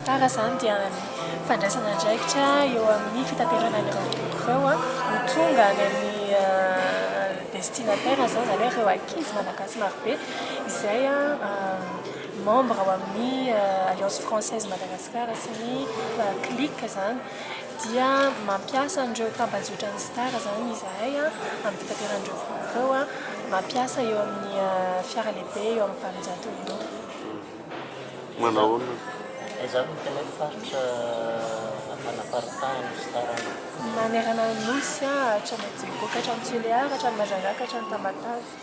Tara izany dia ny fandraisana andraikitra eo amin'ny fitaterana ireo boky ireo ho tonga any amin'ny euh, destinataire izany izany hoe ireo ankizy malagasy marobe izay euh, membre ao amin'ny euh, alliance française Madagascar sy ny clique izany dia mampiasa an'ireo tambajotran'ny Star izany izahay amin'ny fitateran'ireo vahoaka ireo, mampiasa eo amin'ny fiara lehibe eo amin'ny valonjato eo ho eo. Manahoana no. Izany no tena hoe faritra anaparitahan'ny Star any? Manerana ny Nosy, hatrany Bekoka, hatrany Tulear, hatrany Majanjaka, hatrany Tamatave.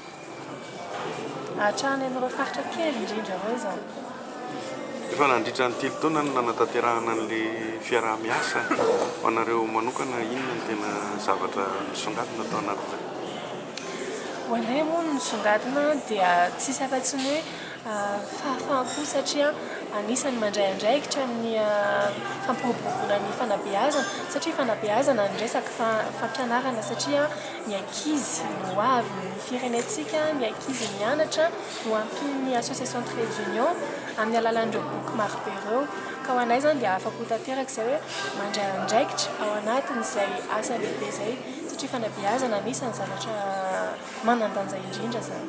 Hatrany amin'ireo faritra kely indrindra ireo izany. Efa nandritra ny telo taona no nanatanterahana an'ilay fiaraha-miasa. Ho anareo manokana, inona no tena zavatra nisongadina tao anatin'ireo? Ho anay moa ny nisongadina dia tsisy afa-tsy ny hoe fahafaham-po satria anisan'ny mandray andraikitra amin'ny fampiroboroboana ny fanabeazana satria fanabeazana ny resaka fa fampianarana satria Ny ankizy no hoavin' ny firenentsika, ny ankizy mianatra no hampian' ny Association Trade Union amin' ny alalan' ireo boky maro be ireo. Ka ho anay izany dia afa-po tanteraka izay hoe mandray andraikitra ao anatin' izay asa lehibe izay, satria fanabeazana anisan' ny zavatra manan-danja indrindra izany.